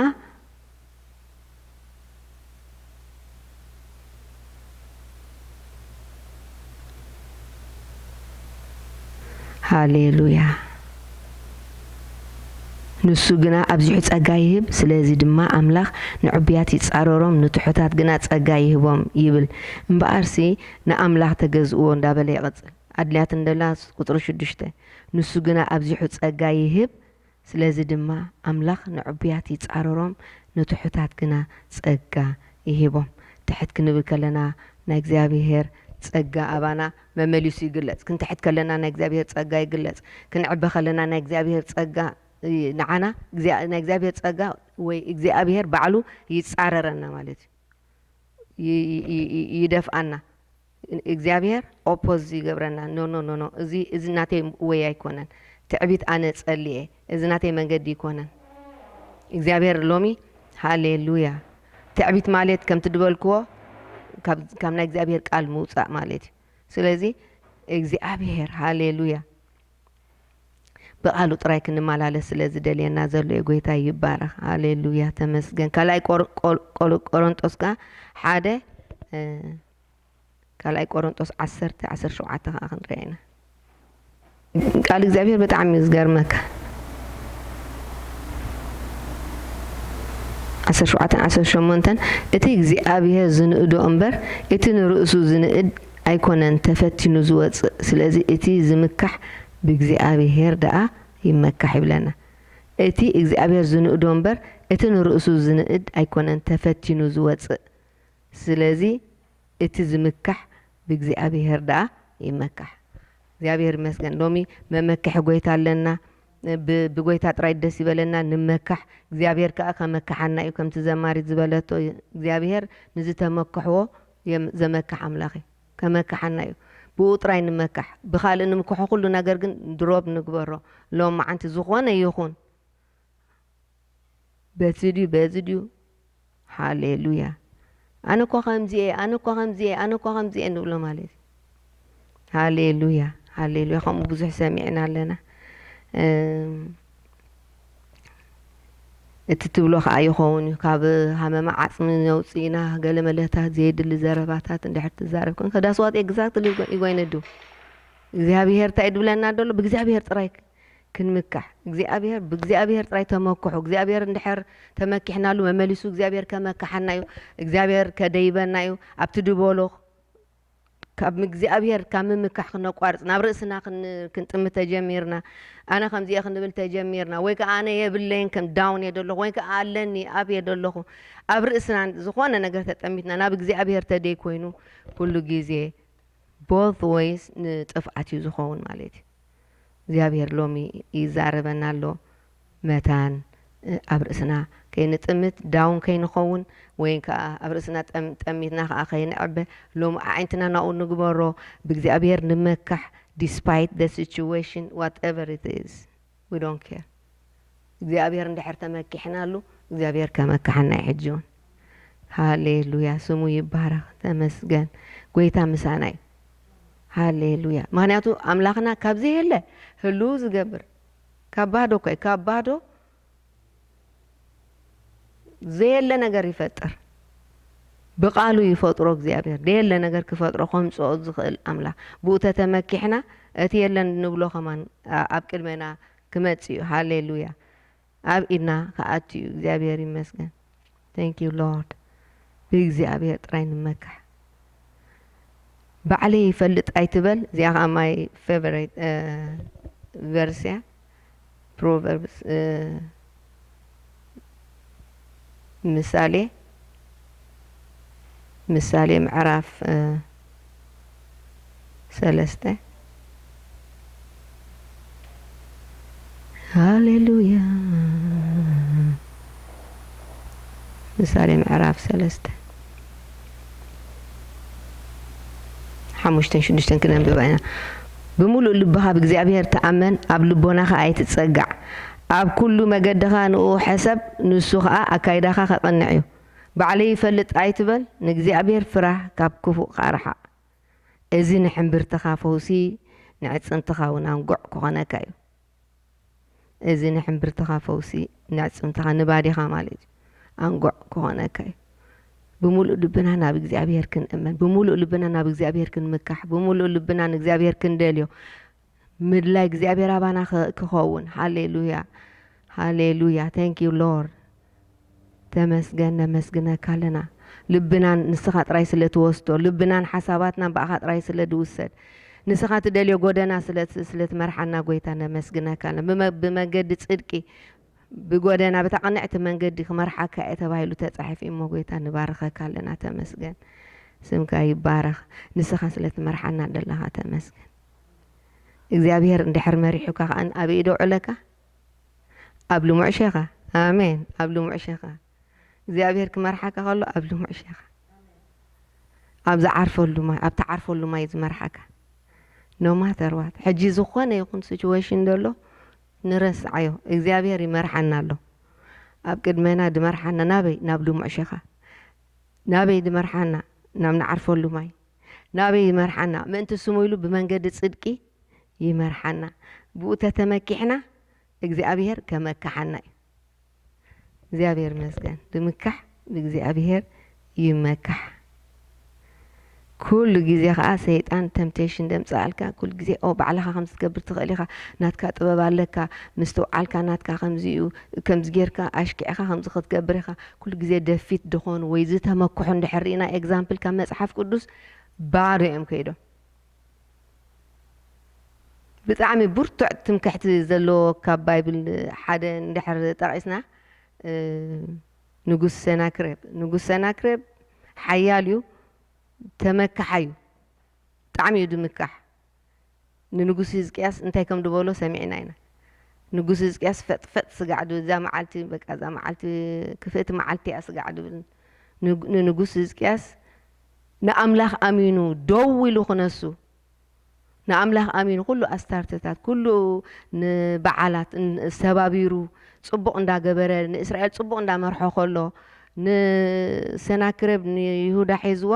ሃሌሉያ ንሱ ግና ኣብዚሑ ጸጋ ይህብ፣ ስለዚ ድማ ኣምላኽ ንዕቡያት ይጻረሮም፣ ንትሑታት ግና ጸጋ ይህቦም ይብል። እምበኣርሲ ንኣምላኽ ተገዝእዎ እንዳበለ ይቕጽል። ኣድልያትንደላ ቁጽሪ ሽዱሽተ ንሱ ግና ኣብዚሑ ጸጋ ይህብ፣ ስለዚ ድማ ኣምላኽ ንዕቡያት ይጻረሮም፣ ንትሑታት ግና ጸጋ ይህቦም። ትሕት ክንብል ከለና ናይ እግዚኣብሄር ጸጋ ኣባና መመሊሱ ይግለጽ። ክንትሕት ከለና ናይ እግዚኣብሄር ጸጋ ይግለጽ። ክንዕበ ከለና ናይ እግዚኣብሄር ጸጋ ንዓና ናይ እግዚኣብሄር ጸጋ ወይ እግዚኣብሄር ባዕሉ ይጻረረና ማለት እዩ። ይደፍኣና። እግዚኣብሔር ኦፖዝ ይገብረና ኖኖኖኖ እዚ እዚ ናተይ ወይ ኣይኮነን ትዕቢት ኣነ ጸልየ እዚ ናተይ መንገዲ ይኮነን እግዚኣብሔር ሎሚ ሃሌሉያ ትዕቢት ማልት ከምቲ ድበልክዎ ካብ ናይ እግዚኣብሔር ቃል ምውጻእ ማለት እዩ ስለዚ እግዚኣብሔር ሃሌሉያ ብቃሉ ጥራይ ክንመላለስ ስለ ዝደልየና ዘሎ ዩ ጎይታ ይባረኽ ሃሌሉያ ተመስገን ካልኣይ ቆሮንጦስ ከ ሓደ ካልኣይ ቆሮንጦስ ዓሰርተ ዓሰርተ ሸውዓተ ከኣ ክንሪኣ ኢና። ቃል እግዚኣብሄር ብጣዕሚ እዩ ዝገርመካ። ዓሰርተ ሸውዓተን ዓሰርተ ሸሞንተን እቲ እግዚኣብሄር ዝንእዶ እምበር እቲ ንርእሱ ዝንእድ ኣይኮነን ተፈቲኑ ዝወጽእ ስለዚ እቲ ዝምካሕ ብእግዚኣብሄር ደኣ ይመካሕ ይብለና። እቲ እግዚኣብሄር ዝንእዶ እምበር እቲ ንርእሱ ዝንእድ ኣይኮነን ተፈቲኑ ዝወጽእ። ስለዚ እቲ ዝምካሕ ብእግዚኣብሄር ደኣ ይመካሕ። እግዚኣብሄር ይመስገን ሎሚ መመክሒ ጎይታ ኣለና። ብ ብጎይታ ጥራይ ደስ ይበለና ንመካሕ እግዚኣብሄር ከኣ ከመክሓና እዩ ከምቲ ዘማሪት ዝበለቶ እግዚኣብሄር ንዝተመክሕዎ የም ዘመክሕ ኣምላኽ እዩ ከመክሓና እዩ ብኡ ጥራይ ንመካሕ ብኻልእ ንምክሖ ኩሉ ነገር ግን ድሮብ ንግበሮ ሎምዓንቲ ዝኾነ ይኹን በቲ ድዩ በዚ ድዩ ሃሌሉያ ኣነ እኳ ከምዚ እየ ኣነ እኳ ከምዚ እየ ኣነ እኳ ከምዚ እየ ንብሎ ማለት እዩ ሃሌሉያ ሃሌሉያ ከምኡ ብዙሕ ሰሚዕና ኣለና እቲ ትብሎ ከዓ ይኸውን እዩ ካብ ሃመማ ዓፅሚ ነውፅ ኢና ገለ መለታት ዘየድሊ ዘረባታት እንድሕር ትዛረብ ኮንከ ዳስዋት ኤግዛክትሊ ይጎይነዱ እግዚኣብሄር እንታይ ድብለና ደሎ ብእግዚኣብሄር ጥራይ ክንምካሕ እግዚኣብሔር ብእግዚኣብሔር ጥራይ ተመክሑ እግዚኣብሔር እንድሕር ተመኪሕናሉ መመሊሱ እግዚኣብሔር ከመካሓና እዩ እግዚኣብሔር ከደይበና እዩ ኣብቲ ድበሎ ካብ እግዚኣብሔር ካብ ምምካሕ ክነቋርፅ ናብ ርእስና ክንጥም ተጀሚርና ኣነ ከምዚየ ክንብል ተጀሚርና ወይ ከዓ ኣነ የብለይን ከም ዳውን እየ ደለኹ ወይ ከዓ ኣለኒ ኣብ እየ ደለኹ ኣብ ርእስና ዝኾነ ነገር ተጠሚትና ናብ እግዚኣብሔር ተደይ ኮይኑ ኩሉ ግዜ ቦት ወይስ ንጥፍኣት እዩ ዝኸውን ማለት እዩ እግዚኣብሄር ሎሚ ይዛረበና ኣሎ መታን ኣብ ርእስና ከይንጥምት ዳውን ከይንኸውን ወይን ከኣ ኣብ ርእስና ጠሚትና ከኣ ከይንዕበ ሎሚ ኣዒንትና ናብኡ ንግበሮ ብእግዚኣብሄር ንመካሕ despite the situation whatever it is we don't care እግዚኣብሔር እንድሕር ተመኪሕናሉ እግዚኣብሔር ከመክሓና እዩ ሕጂ ውን ሃሌሉያ ስሙ ይባረኽ ተመስገን ጎይታ ምሳና እዩ ሃሌሉያ ምክንያቱ ኣምላኽና ካብ ዘየለ ህልው ዝገብር ካብ ባዶ እኳ እዩ ካብ ባዶ ዘየለ ነገር ይፈጥር ብቃሉ ይፈጥሮ እግዚኣብሔር ደየለ ነገር ክፈጥሮ ከምፅኦ ዝኽእል ኣምላኽ ብኡ ተተመኪሕና እቲ የለን ንብሎ ከማን ኣብ ቅድሜና ክመጽእ እዩ ሃሌሉያ ኣብ ኢድና ክኣቱ እዩ እግዚኣብሔር ይመስገን thank you Lord ብእግዚኣብሔር ጥራይ ንመካሕ ባዕለይ ይፈልጥ ኣይትበል እዚኣ ከዓ my favorite ቨርስ እያ ፕሮቨርብስ ምሳሌ ምሳሌ ምዕራፍ ሰለስተ ሃሌሉያ ምሳሌ ምዕራፍ ሰለስተ ሓሙሽተን ሽዱሽተን ክነንብባ ኢና ብምሉእ ልብኻ ብእግዚኣብሔር ተኣመን ኣብ ልቦናኻ ኣይትጸጋዕ ኣብ ኩሉ መገድኻ ንእኡ ሕሰብ ንሱ ኸኣ ኣካይዳኻ ኼቕንዕ እዩ። ባዕለይ እፈልጥ ኣይትበል፣ ንእግዚኣብሄር ፍራህ፣ ካብ ክፉእ ኸኣ ርሓቕ። እዚ ንሕምብርትኻ ፈውሲ፣ ንኣዕጽምትኻውን ኣንጉዕ ኪኾነካ እዩ። እዚ ንሕምብርትኻ ፈውሲ፣ ንኣዕጽምትኻ፣ ንባዲኻ ማለት እዩ፣ ኣንጉዕ ኪኾነካ እዩ። ብምሉእ ልብና ናብ እግዚኣብሄር ክንእመን፣ ብምሉእ ልብና ናብ እግዚኣብሄር ክንምካሕ፣ ብምሉእ ልብና ንእግዚኣብሄር ክንደልዮ፣ ምድላይ እግዚኣብሔር ኣባና ክኸውን ሃሌሉያ ሃሌሉያ ታንክ ዩ ሎርድ ተመስገን ነመስግነካ ኣለና ልብና ንስኻ ጥራይ ስለ ትወስዶ ልብናን ሓሳባትናን ብኣኻ ጥራይ ስለ ድውሰድ ንስኻ ትደልዮ ጎደና ስለ ትመርሓና ጎይታ ነመስግነካ ኣለና ብመገዲ ፅድቂ ብጎደና በታ ቅንዕቲ መንገዲ ክመርሓካ እየ ተባሂሉ ተፃሒፉ እሞ ጎይታ ንባርኸካ ኣለና ተመስገን ስምካ ይባረኽ ንስኻ ስለ ትመርሓና ደለኻ ተመስገን እግዚኣብሄር እንድሕር መሪሑካ ከኣ ኣበይ ዶ ኣውዕለካ ኣብ ልሙዕ ሼኻ ኣሜን ኣብ ልሙዕ ሼኻ እግዚኣብሄር ክመርሓካ ከሎ ኣብ ልሙዕ ሼኻ ኣብ ዝዓርፈሉ ማይ ኣብ ትዓርፈሉ ማይ ዝመርሓካ ኖማተርዋት ሕጂ ዝኾነ ይኹን ሲቹዌሽን ደሎ ንረስዓዮ እግዚኣብሄር ይመርሓና ኣሎ ኣብ ቅድመና ድመርሓና ናበይ ናብ ልሙዕ ሼኻ ናበይ ድመርሓና ናብ ንዓርፈሉ ማይ ናበይ ይመርሓና? ምእንቲ ስሙ ኢሉ ብመንገዲ ጽድቂ ይመርሓና። ብኡ ተተመኪሕና እግዚኣብሄር ከመክሓና እዩ። እግዚኣብሄር ይመስገን ብምካሕ ብእግዚኣብሄር ይመካሕ። ኩሉ ግዜ ከኣ ሰይጣን ተምፕቴሽን ደምጽኣልካ ኩሉ ግዜ ኦ ባዕልኻ ከምዚ ትገብር ትኽእል ኢኻ ናትካ ጥበብ ኣለካ ምስትውዓልካ ናትካ ከምዚ እዩ ከምዚ ጌርካ ኣሽኪዕካ ከምዚ ክትገብር ኢኻ ኩሉ ግዜ ደፊት ድኾኑ ወይ ዝተመክሑ እንድሕር ርኢና ኤግዛምፕል ካብ መጽሓፍ ቅዱስ ባዶ እዮም ከይዶም። ብጣዕሚ ብርቱዕ ትምክሕቲ ዘለዎ ካብ ባይብል ሓደ እንድሕር ጠቒስና ንጉስ ሰናክሬብ ንጉስ ሰናክሬብ ሓያል እዩ ተመካሓይ እዩ ብጣዕሚ እዩ ድምካሕ ንንጉስ ህዝቅያስ እንታይ ከም ድበሎ ሰሚዕና ኢና ንጉስ ህዝቅያስ ፈጥ ፈጥ ስጋዕ ድብል እዛ መዓልቲ በቃ እዛ መዓልቲ ክፍእቲ መዓልቲ እያ ስጋዕ ድብል ንንጉስ ህዝቅያስ ንኣምላኽ ኣሚኑ ደው ኢሉ ክነሱ ንኣምላኽ ኣሚኑ ኩሉ ኣስታርትታት ኩሉ ንበዓላት ሰባቢሩ ጽቡቕ እንዳገበረ ንእስራኤል ጽቡቕ እንዳመርሖ ከሎ ንሰናክረብ ንይሁዳ ሒዝዋ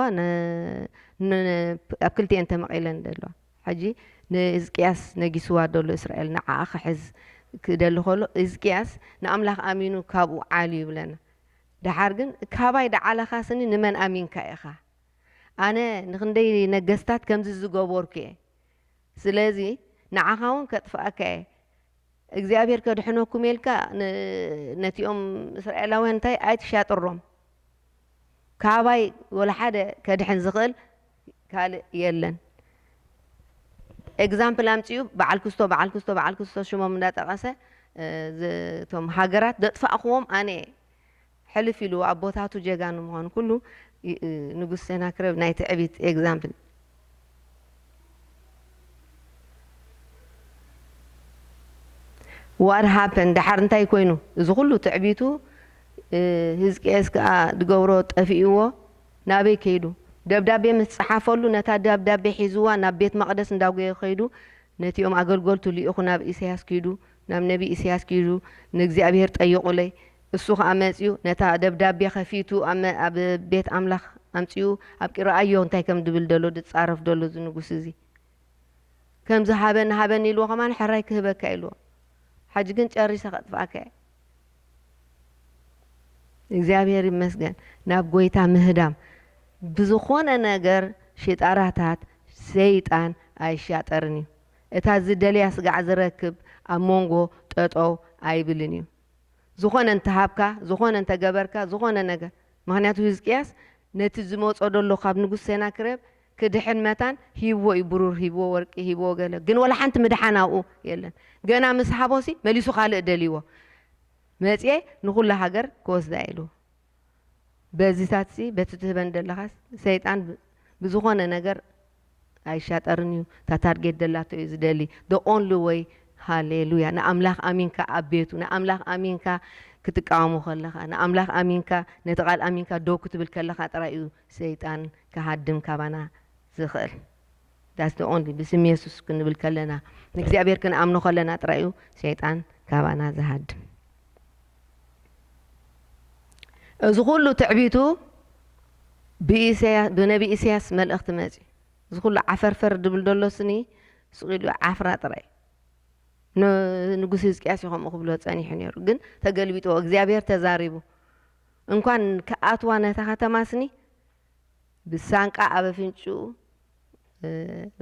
ን ኣብ ክልቲኤን ተመቒለን ደለዋ ሕጂ ንህዝቅያስ ነጊስዋ ደሎ እስራኤል ንዓኣ ክሕዝ ክደሊ ከሎ ህዝቅያስ ንኣምላኽ ኣሚኑ ካብኡ ዓልዩ ይብለና ደሓር ግን ካባይ ደዓለኻ ስኒ ንመን ኣሚንካ ኢኻ ኣነ ንክንደይ ነገስታት ከምዚ ዝገበርኩ እየ ስለዚ ንዓኻ ውን ከጥፍኣካ እየ እግዚኣብሄር ከድሕነኩም እየ ኢልካ ን ነቲኦም እስራኤላውያን እንታይ ኣይትሻጥሮም ካባይ ወላሓደ ከድሕን ዝኽእል ካልእ የለን። ኤግዛምፕል ኣምጺኡ በዓል ክስቶ በዓል ክስቶ በዓል ክስቶ ሽሞም እንዳጠቐሰ እቶም ሃገራት ዘጥፋእክዎም ኣነ እየ ሕልፍ ኢሉ ኣቦታቱ ጀጋኑ ምዃኑ ኩሉ ንጉስ ሴናክረብ ናይ ትዕቢት ኤግዛምፕል። ዋት ሃፐንድ ደሓር እንታይ ኮይኑ እዚ ኩሉ ትዕቢቱ ህዝቅኤስ ከኣ ድገብሮ ጠፊእዎ ናበይ ከይዱ ደብዳቤ ምስ ጸሓፈሉ ነታ ደብዳቤ ሒዝዋ ናብ ቤት መቅደስ እንዳጎየ ከይዱ ነቲኦም ኣገልገልቱ ሊኢኹ ናብ ኢሰያስ ኪዱ ናብ ነቢ ኢሰያስ ኪዱ ንእግዚኣብሄር ጠይቁለይ እሱ ኸኣ መጺኡ ነታ ደብዳቤ ከፊቱ ኣብ ቤት ኣምላኽ ኣምጺኡ ኣብቂ ረኣዮ እንታይ ከም ድብል ደሎ ድጻረፍ ደሎ እዚ ንጉስ እዚ ከምዚ ሃበኒ ሃበኒ ኢልዎ ከማን ሕራይ ክህበካ ኢልዎ ሓጂ ግን ጨሪሰ ከጥፍኣካ እየ እግዚኣብሔር ይመስገን ናብ ጎይታ ምህዳም ብዝኾነ ነገር ሽጣራታት ሰይጣን ኣይሻጠርን እዩ እታ ዝደልያ ስጋዕ ዝረክብ ኣብ መንጎ ጠጠው ኣይብልን እዩ ዝኾነ እንተሃብካ፣ ዝኾነ እንተገበርካ፣ ዝኾነ ነገር፣ ምኽንያቱ ህዝቅያስ ነቲ ዝመጾ ደሎ ካብ ንጉስ ሴናክሬብ ክድሕን መታን ሂብዎ እዩ ብሩር ሂብዎ ወርቂ ሂብዎ ገለ ግን ወላ ሓንቲ ምድሓን ኣብኡ የለን ገና ምስ ሃቦሲ መሊሱ ካልእ ደልይዎ መጽየ ንኹላ ሃገር ክወስዳ ኢሉ በዚታትሲ በቲ ትህበን ደለኻስ ሰይጣን ብዝኾነ ነገር ኣይሻጠርን እዩ እታ ታርጌት ደላቶ እዩ ዝደሊ the only way ሃሌሉያ ንኣምላኽ ኣሚንካ ኣብ ቤቱ ንኣምላኽ ኣሚንካ ክትቃወሙ ከለኻ ንኣምላኽ ኣሚንካ ነቲ ቃል ኣሚንካ ደው ክትብል ከለኻ ጥራይ እዩ ሰይጣን ክሃድም ካባና ዝኽእል ዳስ ዘ ኦንሊ ብስም የሱስ ክንብል ከለና ንእግዚኣብሔር ክንኣምኖ ከለና ጥራይ እዩ ሸይጣን ካባና ዝሃድም እዚ ኩሉ ትዕቢቱ ብነቢ ኢሳያስ መልእኽቲ መፅ እዚ ኩሉ ዓፈርፈር ድብል ደሎ ስኒ ስቂሉ ዓፍራ ጥራይ ንጉስ ህዝቅያስ እዩ ከምኡ ክብሎ ፀኒሑ ነይሩ ግን ተገልቢጥዎ እግዚኣብሔር ተዛሪቡ እንኳን ክኣትዋ ነታ ከተማ ስኒ ብሳንቃ ኣብ ኣፍንጭኡ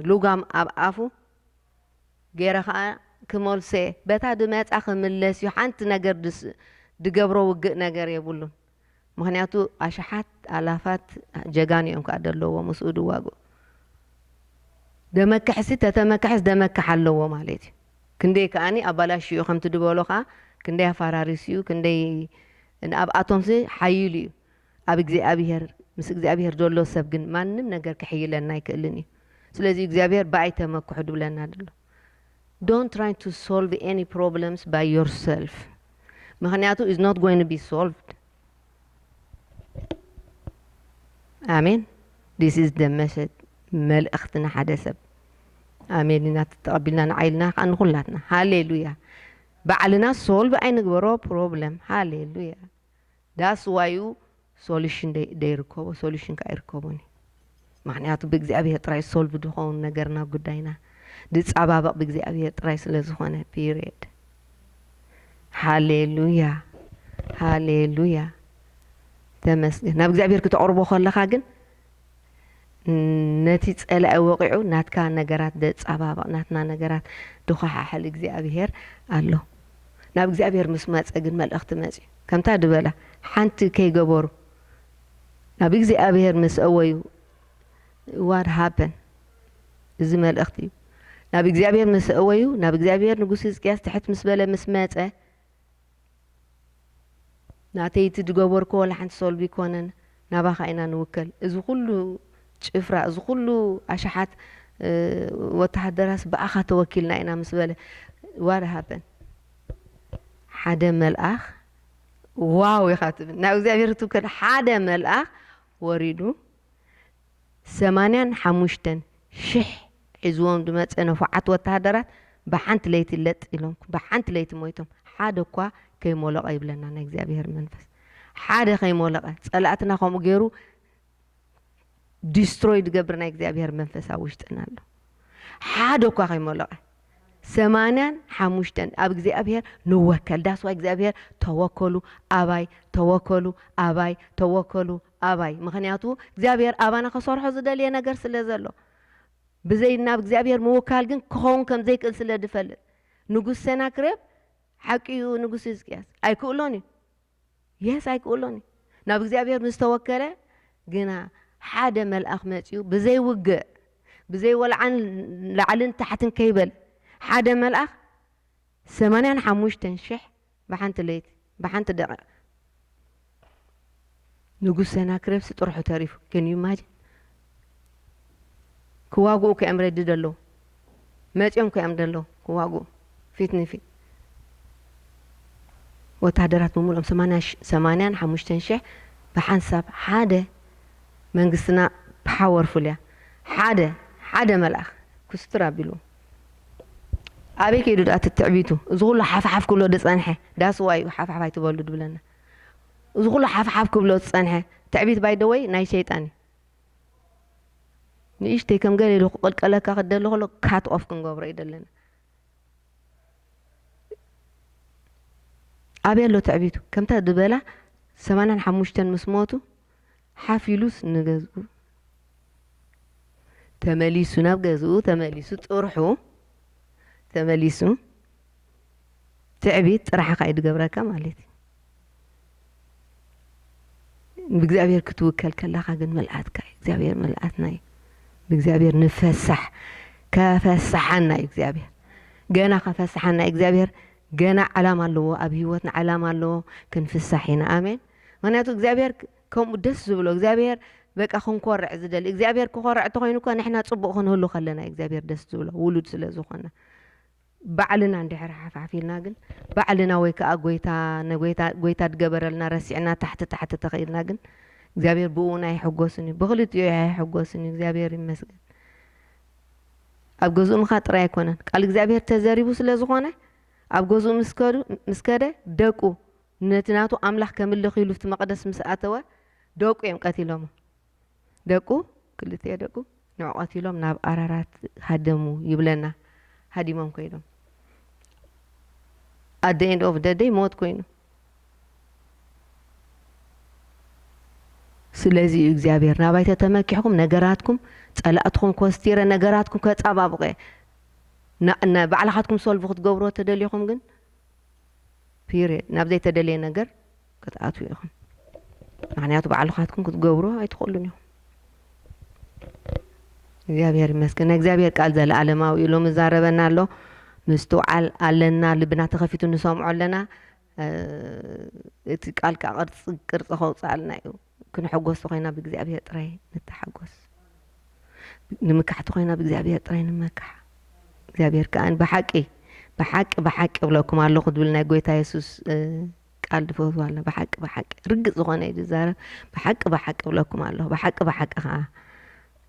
ሉጋም ኣብ ኣፉ ገይረ ከኣ ክመልሶ'የ። በታ ድመጻ ክምለስ'ዩ ሓንቲ ነገር ድገብሮ ውግእ ነገር የብሉን። ምኽንያቱ ኣሽሓት ኣላፋት ጀጋኑ'ዮም ከኣ ደለዉዎ ምስኡ ድዋግኡ። ደመክሕሲ ተተመከሐስ ደመክሕ ኣለዎ ማለት'ዩ። ክንደይ ከኣ ኣባላሽዩ'ዩ ከምቲ ድበሎ ከኣ ክንደይ ኣፋራሪሱ'ዩ ክንደይ ንኣብኣቶምሲ ሓይሉ'ዩ። ኣብ እግዚኣብሄር ምስ እግዚኣብሄር ዘሎ ሰብ ግን ማንም ነገር ክሕይለና ኣይክእልን እዩ ስለዚ እግዚኣብሄር ብኣይ ተመክሑ ድብለና ድሎ don't try to solve any problems by yourself ምክንያቱ is not going to be solved ኣሜን this is the message መልእኽቲ ንሓደ ሰብ ኣሜን ኢና ተቐቢልና ንዓይልና ከዓ ንኩላትና ሃሌሉያ ባዕልና ሶልቭ ኣይንግበሮ ፕሮብለም ሃሌሉያ That's why እዩ solution ደይርከቦ solution ከኣ ኣይርከቦን እዩ ምኽንያቱ ብእግዚኣብሄር ጥራይ solve ድኸውን ነገርና ጉዳይና ድጻባበቕ ብእግዚኣብሄር ጥራይ ስለ ዝኾነ period ሃሌሉያ ሃሌሉያ ተመስገን ናብ እግዚኣብሄር ክተቕርቦ ከለኻ ግን ነቲ ጸላኢ ወቂዑ ናትካ ነገራት ደጻባብቅ ናትና ነገራት ድኳሓሕል እግዚኣብሄር ኣሎ ናብ እግዚኣብሄር ምስ መጸ ግን መልእክቲ መጽዩ ከምታ ድበላ ሓንቲ ከይገበሩ ናብ እግዚኣብሄር ምስ እወዩ what happened እዚ መልእክቲ እዩ ናብ እግዚኣብሄር ምስ እወዩ ናብ እግዚኣብሄር ንጉስ ህዝቅያስ ትሕት ምስ በለ ምስ መጸ ናተይ እቲ ድገበርኮ ወላ ሓንቲ ሶልቢ ኮነን ናባካ ኢና ንውከል እዚ ኩሉ ጭፍራ እዚ ኩሉ ኣሻሓት ወታሃደራትስ ብኣካ ተወኪልና ኢና ምስ በለ ዋት ሃፐን ሓደ መልኣክ ዋው ኢካ ትብል ናብ እግዚኣብሔር ክትውከል ሓደ መልኣክ ወሪዱ ሰማንያን ሓሙሽተን ሽሕ ሒዝዎም ዝመጸ ንፉዓት ወተሃደራት ብሓንቲ ለይቲ ለጥ ኢሎም ብሓንቲ ለይቲ ሞይቶም ሓደ እኳ ከይሞሎቐ ይብለና ናይ እግዚኣብሄር መንፈስ ሓደ ከይሞለቐ ጸላእትና ከምኡ ገይሩ ዲስትሮይ ዝገብር ናይ እግዚኣብሄር መንፈስ ኣብ ውሽጥና ኣሎ ሓደ እኳ ከይሞለቐ ሰማንያን ሓሙሽተን ኣብ እግዚኣብሄር ንወከል ዳስዋ እግዚኣብሄር ተወከሉ ኣባይ ተወከሉ ኣባይ ተወከሉ ኣባይ ምኽንያቱ እግዚኣብሔር ኣባና ከሰርሖ ዝደልዬ ነገር ስለ ዘሎ ብዘይ ናብ እግዚኣብሔር ምውካል ግን ክኸውን ከም ዘይክእል ስለ ድፈልጥ ንጉስ ሴናክሬብ ሓቂ እዩ ንጉስ ህዝቅያስ ኣይክእሎን እዩ የስ ኣይክእሎን እዩ ናብ እግዚኣብሔር ምስ ተወከለ ግና ሓደ መልኣኽ መጺኡ ብዘይ ውግእ ብዘይ ወልዓን ላዕልን ታሕትን ከይበል ሓደ መልኣኽ ሰማንያን ሓሙሽተን ሽሕ ብሓንቲ ለይቲ ብሓንቲ ደቒቕ ንጉስ ሰናክሬብሲ ጥርሑ ተሪፉ can you imagine ክዋግኡ እኮ እዮም ረዲ ደለዉ መጺኦም እኮ እዮም ደለዉ ክዋግኡ ፊት ንፊት ወተሃደራት ብምሉኦም ሰማንያን ሓሙሽተን ሽሕ ብሓንሳብ ሓደ መንግስትና ፓወርፉል እያ ሓደ ሓደ መልኣኽ ኩስትር ኣቢሉ ኣበይ ከይዱ ድኣ እቲ ትዕቢቱ እዚ ኩሉ ሓፍሓፍ ክብሎ ዝጸንሐ ዳስ ዋይ እዩ ሓፍሓፍ ኣይትበሉ ድብለና እዚ ኩሉ ሓፍሓፍ ክብሎ ዝጸንሐ ትዕቢት ባይ ደ ወይ ናይ ሸይጣን እዩ ንእሽተይ ከም ገለ ኢሉ ክቕልቀለካ ክደሊ ከሎ ካት ኦፍ ክንገብሮ እዩ ዘለና ኣበይ ኣሎ ትዕቢቱ ከምታ ዝበላ ሰማንያን ሓሙሽተን ምስ ሞቱ ሓፍ ኢሉስ ንገዝኡ ተመሊሱ፣ ናብ ገዝኡ ተመሊሱ፣ ጥርሑ ተመሊሱ፣ ትዕቢት ጥራሕኻ እዩ ዝገብረካ ማለት እዩ። ብእግዚኣብሔር ክትውከል ከለኻ ግን መልኣትካ እዩ እግዚኣብሔር መልኣትና እዩ ብእግዚኣብሔር ንፈሳሕ ከፈሳሓና እዩ እግዚኣብሔር ገና ከፈሳሓና እዩ እግዚኣብሔር ገና ዓላማ ኣለዎ ኣብ ህይወትና ዓላማ ኣለዎ ክንፍሳሕ ኢና ኣሜን ምክንያቱ እግዚኣብሄር ከምኡ ደስ ዝብሎ እግዚኣብሄር በቃ ክንኮርዕ ዝደሊ እግዚኣብሄር ክኮርዕ እንተኮይኑ እኳ ንሕና ፅቡቅ ክንህሉ ከለና እዩ እግዚኣብሄር ደስ ዝብሎ ውሉድ ስለ ዝኮና ባዕልና እንድሕር ሓፍሓፍ ኢልና ግን ባዕልና ወይ ከዓ ጎይታ ንጎይታ ጎይታ ድገበረልና ረሲዕና ታሕቲ ታሕቲ ተኽኢልና ግን እግዚኣብሄር ብእውን ኣይሕጎስን እዩ ብክልቲኡ ኣይሕጎስን እዩ እግዚኣብሄር ይመስገን ኣብ ገዝኡ ምካ ጥራይ ኣይኮነን ቃል እግዚኣብሄር ተዘሪቡ ስለ ዝኮነ ኣብ ገዝኡ ምስ ከደ ደቁ ነቲ ናቱ ኣምላኽ ከምልኽ ኢሉ እቲ መቕደስ ምስ ኣተወ ደቁ እዮም ቀቲሎሞ። ደቁ ክልቲኤ ደቁ ንዑ ቀቲሎም ናብ ኣራራት ሃደሙ ይብለና ሃዲሞም ኮይኖም at the end of the day ሞት ኮይኑ ስለዚ እዩ እግዚኣብሔር ናባይተ ተመኪሕኩም ነገራትኩም ጸላእትኹም ኮስቲረ ነገራትኩም ከጻባብቐ ባዕላኻትኩም ሶልቭ ክትገብሮ ተደሊኹም ግን ፒርየድ ናብ ዘይተደልየ ነገር ክትኣትዉ ኢኹም ምክንያቱ ባዕልካትኩም ክትገብሩ ኣይትኽእሉን ኢኹም እግዚኣብሔር ይመስገን ናይ እግዚኣብሔር ቃል ዘለኣለማዊ እዩ ሎሚ ዛረበና ኣሎ ምስትውዓል ኣለና ልብና ተኸፊቱ ንሰምዖ ኣለና እቲ ቃል ከዓ ቅርፂ ቅርፂ ከውፅኣልና እዩ ክንሕጎስ ተኾይና ብእግዚኣብሔር ጥራይ ንተሓጎስ ንምካሕ ተኾይና ብእግዚኣብሔር ጥራይ ንመካሕ እግዚኣብሔር ከኣ ብሓቂ ብሓቂ ብሓቂ እብለኩም ኣለኹ ዝብል ናይ ጎይታ የሱስ ቃል ድፈትዋ ኣለ ብሓቂ ብሓቂ ርግፅ ዝኾነ እዩ ዝዛረብ ብሓቂ ብሓቂ እብለኩም ኣለኹ ብሓቂ ብሓቂ ከዓ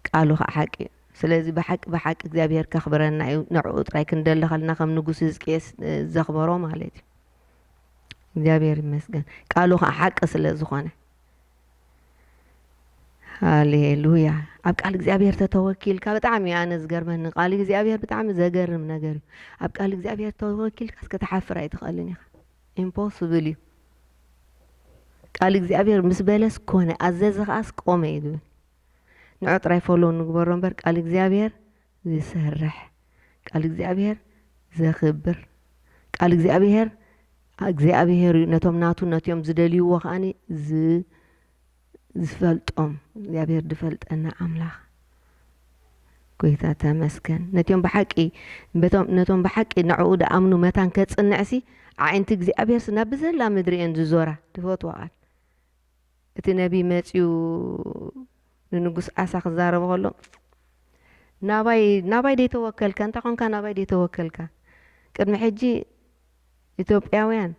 ቃሉ ከዓ ሓቂ እዩ ስለዚ ብሓቂ ብሓቂ እግዚኣብሔር ከኽብረና እዩ ንዕኡ ጥራይ ክንደሊ ከለና ከም ንጉስ ህዝቅኤስ ዘኽበሮ ማለት እዩ እግዚኣብሔር ይመስገን ቃሉ ከዓ ሓቂ ስለ ዝኾነ ሃሌሉያ ኣብ ቃል እግዚኣብሔር ተተወኪልካ ብጣዕሚ እዩ ኣነ ዝገርመኒ ቃል እግዚኣብሔር ብጣዕሚ ዘገርም ነገር እዩ ኣብ ቃል እግዚኣብሔር ተወኪልካ እስከ ተሓፍር ኣይትኽእልን ኢኻ ኢምፖስብል እዩ ቃል እግዚኣብሔር ምስ በለስ ኮነ ኣዘዘ ከዓስ ቆመ እዩ ዝብል ንዑ ጥራይ ፎሎ ንግበሮ እምበር ቃል እግዚኣብሔር ዝሰርሕ ቃል እግዚኣብሄር ዘኽብር ቃል እግዚኣብሄር እግዚኣብሄር እዩ ነቶም ናቱ ነትዮም ዝደልይዎ ከኣኒ ዝፈልጦም እግዚኣብሄር ዝፈልጠና ኣምላኽ ጎይታ ተመስገን ነትዮም ብሓቂ ነቶም ብሓቂ ንዕኡ ድኣምኑ መታን ከጽንዕሲ ኣዒንቲ እግዚኣብሄርሲ ናብ ብዘላ ምድሪ እየን ዝዞራ ትፈትዋ ቃል እቲ ነብዪ መጺኡ ንንጉስ ኣሳ ክዛረቦ ከሎ፣ ናባይ ናባይ ደይተወከልካ? እንታይ ኰንካ ናባይ ደይተወከልካ? ቅድሚ ሕጂ ኢትዮጵያውያን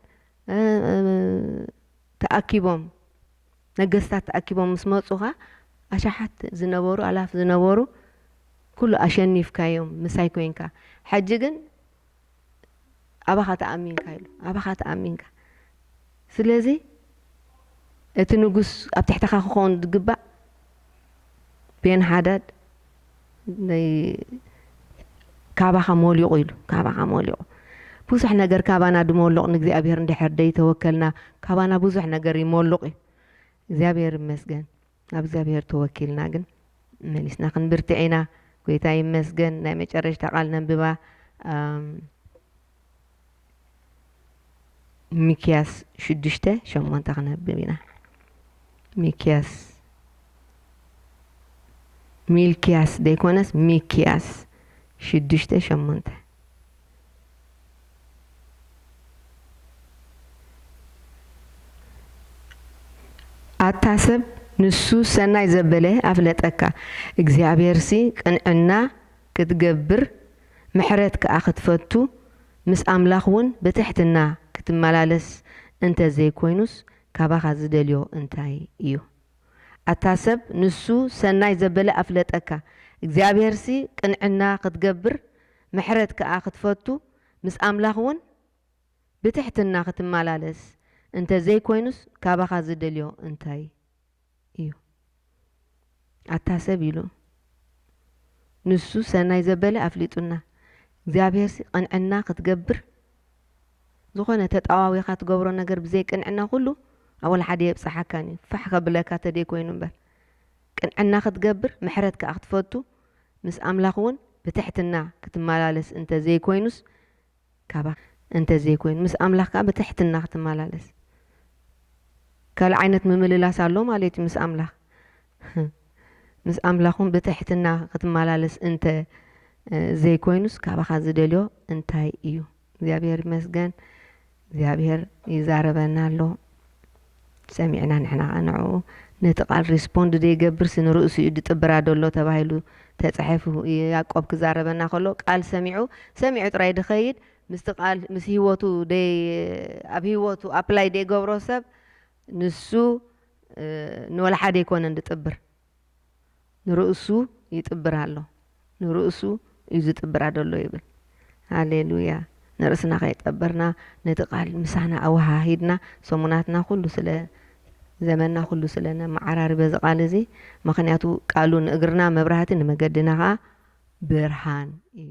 ተኣኪቦም ነገስታት ተኣኪቦም ምስ መጹኻ፣ ኣሽሓት ዝነበሩ ኣላፍ ዝነበሩ ኵሉ ኣሸኒፍካዮም ምሳይ ኰንካ። ሕጂ ግን ኣባኻ ተኣሚንካ ኢሉ ኣባኻ ተኣሚንካ ስለዚ እቲ ንጉስ ኣብ ትሕተኻ ክኾን ዝግባእ ቤን ሓዳድ ካባኻ ሞሊቑ ኢሉ ካባኻ ሞሊቑ ብዙሕ ነገር ካባና ድሞሎቕ ንእግዚኣብሔር እንድሕር ደይተወከልና ካባና ብዙሕ ነገር ይሞሉቕ እዩ እግዚኣብሔር ይመስገን ኣብ እግዚኣብሔር ተወኪልና ግን መሊስና ክንብርትዕ ኢና ጎይታ ይመስገን ናይ መጨረሽታ ቃል ነንብባ ሚክያስ ሽዱሽተ ሸሞንተ ክነብብ ኢና ሚክያስ ሚልክያስ ዘይኮነስ ሚክያስ ሽዱሽተ ሸሞንተ ኣታ ሰብ ንሱ ሰናይ ዘበለ ኣፍለጠካ እግዚኣብሔርሲ ቅንዕና ክትገብር ምሕረት ከኣ ክትፈቱ ምስ ኣምላኽ ውን ብትሕትና ክትመላለስ እንተ ዘይኮይኑስ ካባኻ ዝደልዮ እንታይ እዩ ኣታ ሰብ ንሱ ሰናይ ዘበለ ኣፍለጠካ እግዚኣብሔርሲ ቅንዕና ክትገብር ምሕረት ከኣ ክትፈቱ ምስ ኣምላኽ ውን ብትሕትና ክትማላለስ እንተ ዘይኮይኑስ ካባኻ ዝደልዮ እንታይ እዩ ኣታ ሰብ ኢሉ ንሱ ሰናይ ዘበለ ኣፍሊጡና እግዚኣብሔርሲ ቅንዕና ክትገብር ዝኾነ ተጣዋዊኻ ትገብሮ ነገር ብዘይ ቅንዕና ኩሉ ኣብ ወላሓደ የብጻሓካን እዩ ፋሕ ከብለካ ተደይ ኮይኑ እምበር ቅንዕና ክትገብር ምሕረት ከኣ ክትፈቱ ምስ ኣምላኽ ውን ብትሕትና ክትማላለስ እንተ ዘይኮይኑስ ካባኽ እንተ ዘይኮይኑ ምስ ኣምላኽ ከኣ ብትሕትና ክትማላለስ ካልእ ዓይነት ምምልላስ ኣሎ ማለት እዩ ምስ ኣምላኽ ምስ ኣምላኽ ውን ብትሕትና ክትማላለስ እንተ ዘይኮይኑስ ካባኻ ዝደልዮ እንታይ እዩ። እግዚኣብሔር ይመስገን እግዚኣብሔር ይዛረበና ኣሎ ሰሚዕና ንሕና ከኣ ንዕኡ ነቲ ቃል ሪስፖንድ ዘይገብርሲ ንርእሱ እዩ ድጥብራ ደሎ ተባሂሉ ተጻሒፉ ያእቆብ ክዛረበና ከሎ ቃል ሰሚዑ ሰሚዑ ጥራይ ድኸይድ ምስቲ ቃል ምስ ህይወቱ ኣብ ህይወቱ ኣፕላይ ዘይገብሮ ሰብ ንሱ ንወላ ሓደ ኣይኮነን ድጥብር ንርእሱ ይጥብር ኣሎ ንርእሱ እዩ ዝጥብራ ደሎ ይብል ሃሌሉያ ንርእስና ከይጠበርና ነቲ ቃል ምሳና ኣወሃሂድና ሰሙናትና ኩሉ ስለ ዘመና ኩሉ ስለ ነመዓራሪ በዚ ቃል እዚ ምክንያቱ ቃሉ ንእግርና መብራህቲ ንመገድና ከኣ ብርሃን እዩ።